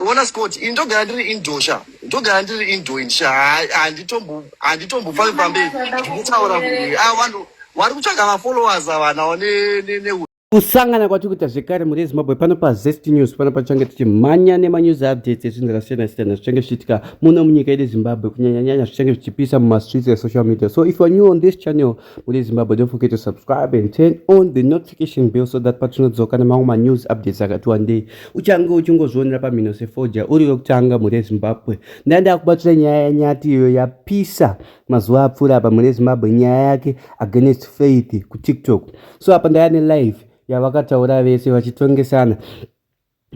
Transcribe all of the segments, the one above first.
Bona Scott, ini ndogara ndiri indoor sha. Ndogara ndiri indoor sha. Handitombo handitombofavi pamberi. Ndikutaura kuti ah vanhu vari kutsvaga ma followers avana ne ne ne kusangana kwatiri kuita zvekare mhuri yezimbabwe pano pazest news pano pachange tichimhanya nemanews updates ezvinhu zvakasiyana siyana zvichange zvichiitika muno munyika yedu zimbabwe kunyanyanyanya zvichange zvichipisa mumastreets esocial media so if youare new on this channel Mune Zimbabwe, don't forget to subscribe and turn on the notification bell so that patinodzoka nemamwe manews updates akati wandei uchange uchingozvionera pamhino sefoja uri wekutanga mune Zimbabwe. Ndanga ndakubatira nyaya yanyati iyo yapisa mazuva apfuura apa mune Zimbabwe nyaya yake against faith kuTiktok. So apa ndaya nelive yavakataura vese vachitongesana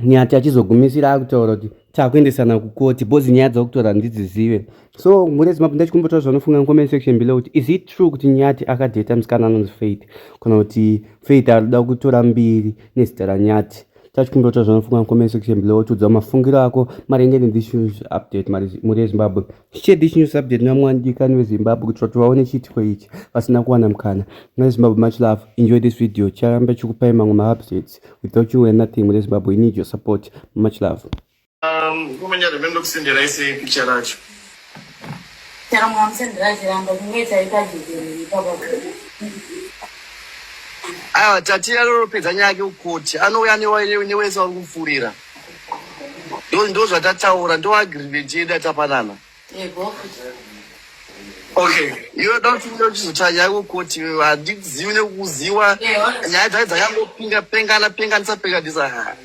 Nyati achizogumisira akutaura kuti takuendesana kukoti bhozi nyaya dzakutaura ndidzizive so mhuri yezimabhu ndachikumbotaura zvanofunga comment section below kuti is it true kuti nyati akadheta musikana anonzi faith kana kuti faith arikuda kutora mbiri nezita ranyati tachikumbotaura zvanofunga comment section below tiudzawo mafungiro ako maringe nethis update mhuri yezimbabwe Share this news update namwani dikani wezimbabwe kuti vati vaone chiitiko ichi vasina kuwana mukana mune zimbabwe much love enjoy this video charamba chikupai mamwe maupdates without you were nothing mune zimbabwe we need your support much love um, kumanyara mbe ndokusenderai sei picha racho chero mwamusenderai chiramba kungoita ipajekero ipapa aiwa tatiya roropedza nyaya yake ukoti anouya newese uri kupfuurira Ndo ndo zvatataura ndo agreement yedu yatapanana. Yego. Okay, iwe dauti uda kuchizotsvaka nyaya kukoti iwe handizivi nekukuziwa Yeah. nyaya dzai dzakangopinga pengana penganisa penganisa ha.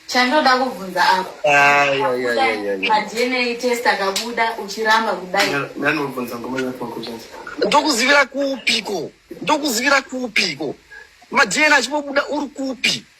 Chandoda kubvunza apa. Ah, ya, ya, ya, ya, ya. MaDNA test akabuda uchiramba kudai. Ndanobvunza ngoma yako kuchati. ndokuzivira kupiko ndokuzivira kupiko madna achipobuda uri kupi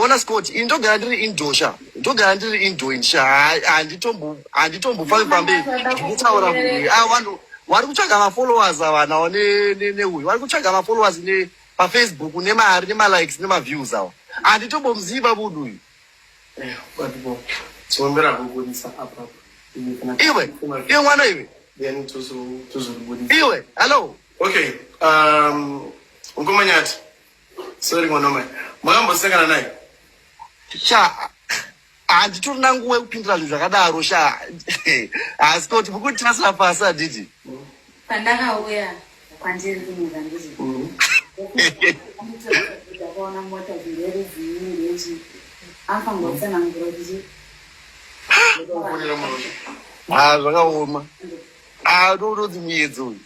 ona scott ini ndogara ndiri indo sha ndogara ndiri indo ini sha handitombofavi pamberi ndikutaura muuyu a ah, vanhu wari kutsvaga mafollowers avanawo neuyu wari kutsvaga mafollowers pafacebook nemari nemalikes nemaviews awo handitombomuziva vudu uyu iwe iwe mwana iwe iwe hallo okay um, ngomanyati Sorry mwana mai. Makambosangana naye? Sha handitorina nguva yekupindira zvinhu zvakadaro sha asi kuti mukuti tasina pasi adidi pandakauya kwandiri kunyika ndizvi mm. ndakaona mota zvingeruziirechi afangotsanangura kuti ha zvakaoma adodozi muyedzo uyu